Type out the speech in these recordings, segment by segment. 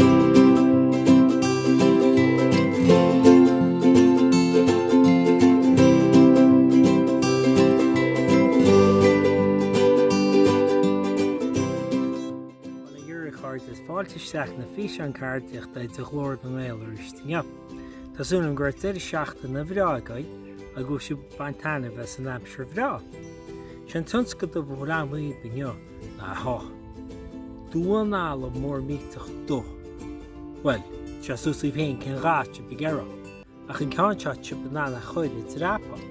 Bail ó Dhia oraibh a chairde is fáilte isteach na físeáin ceardaíochta de Ghlór na nGael arís inniu. Tá súil agam go raibh deireadh seachtaine bhreá agaibh agus go raibh sibh ag baint taitnimh as an aimsir bhreá. Sé an tionscadal ba ghreamhaígh inniu. Aha. Damhán alla mór millteach dubh. Bhuel, tá sé suas daoibh féin cén dath atá sibh ag iarraidh air, ach an ceann seo tá sibh in ann a chur ag dreapadh.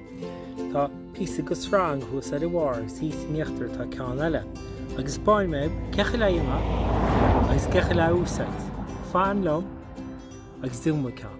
Tá píosa de shreang thuas ar a bharr agus thíos in íochtar tá ceann eile, agus spáinfidh mé cé chaoi le é a dhéanamh agus cé chaoi le é a úsáid. Fan liom agus déanfaidh mé ceann.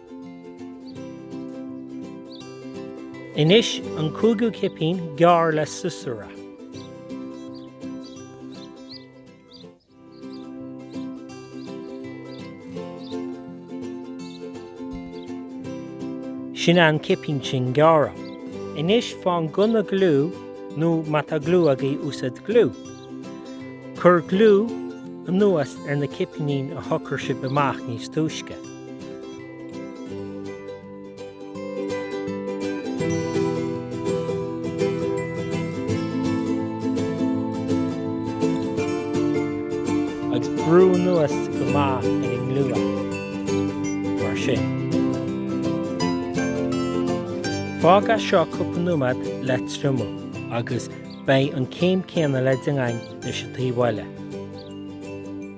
Anois an cúigiú cipín gearr le siosúr é. Sin é an cipín sin gearrtha. Anois faigh an gunna gliú nó má tá gliú agaibh úsaid gliú. Cuir gliú anuas ar na cipíní a shocair sibh amach níos túisce. agus brú anuas go maith ar an ngliú mar sin. Fág é seo cúpla nóiméad le triomú agus beidh an céim céanna le déanamh againn leis an taobh eile.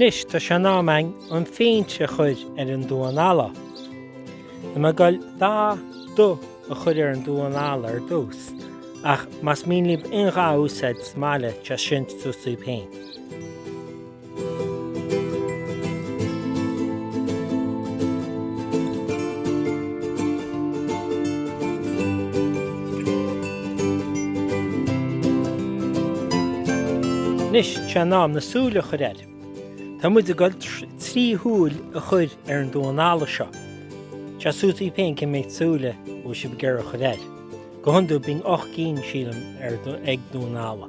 Anois tá sé in am againn an phéint a chur ar an damhán alla. Tá muid ag dul dath dubh a chur ar an damhán alla ar dtús ach más mian libh aon dath a úsáid sa mbaile tá sin suas daoibh féin. Anois, tá sé in am na súile a chur air. Tá muid ag dul trí shúil a chur ar an damhán alla seo. Tá sé suas daoibh féin cé mhéad súile bhfuil sibh ag iarraidh a chur air. Go hiondúil bíonn ocht gcinn, sílim, ag damhán alla.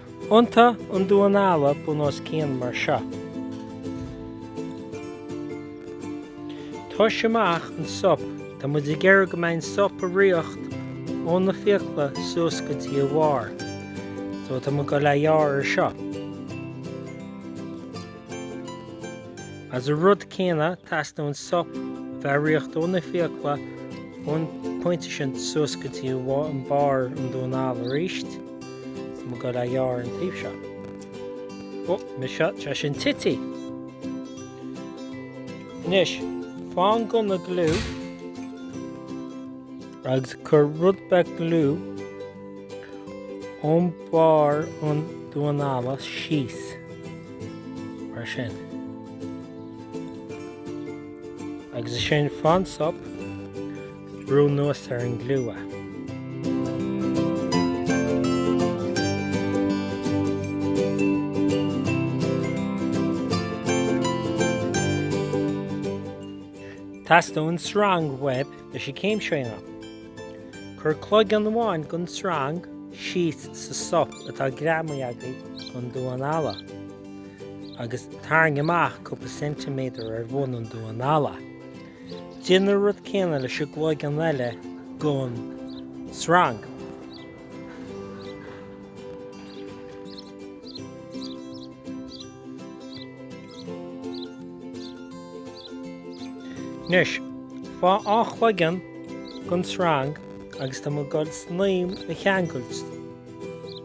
Iontaigh an damhán alla bun os cionn mar seo. Tomhais amach an sop, tá muid ag iarraidh go mbeidh an sop ag ritheacht ó na fiacla suas go dtí a bharr. So tá muid ag goil é a ghearradh anseo. Is an rud céanna, teastaíonn an sop a bheith ag ritheacht ó na fiacla ón pointe sin suas go dtí an barr an damháin alla arís. Tá muid ag goil a ghearradh an taobh seo. Ó, muise, tá sé sin titithe. Anois, faigh an gunna gliú agus cuir rud beag gliú ón barr an damháin alla síos, mar sin. Agus ansin faigh an sop. Brú anuas ar an ngliú é. Teastaíonn sreang uaibh leis an gcéim seo a dhéanamh. Cuir cloigeann amháin den tsreang síos sa sop atá greamaithe agaibh den damhán alla agus tarraing amach cúpla ceintiméadar ar bhun an damháin alla. Déan an rud céanna leis an gcloigeann eile den sreang. Anois, faigh dhá chloigeann den sreang agus tá muid ag goil snaidhm a cheangailt.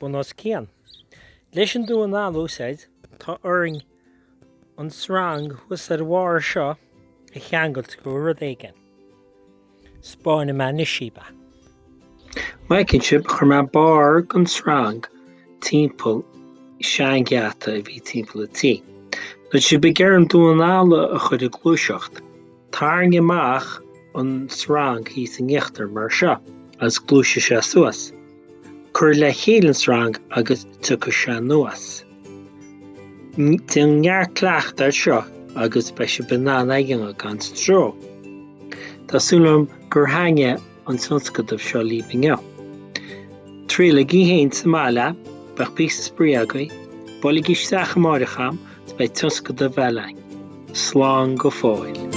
bun os cionn. Leis an damhán alla a úsáid tá orainn an sreang thuas ar barr seo a cheangailt do rud éigin, 'spáinfidh mé anois daoibh é. Feiceann sibh, chuir mé barr den sreang timpeall seangheata a bhí timpeall an tí. Nuair atá sibh ag iarraidh an damhán alla a chur ag gluaiseacht. Tarraing amach an sreang thíos in íochtar, mar seo, agus gluaisfidh sé suas. Cuir le chéile an sreang agus tiocfaidh sé anuas. Déan neart cleachtadh air seo agus beidh sibh in ann a dhéanamh gan stró. Tá súil agam gur thaitnigh an tionscadal seo libh inniu. Triailigí fhéin sa mbaile, beidh píosa spraoi agaibh, buailigí isteach amáireach agam is beidh tionscadal eile againn. Slán go fóill.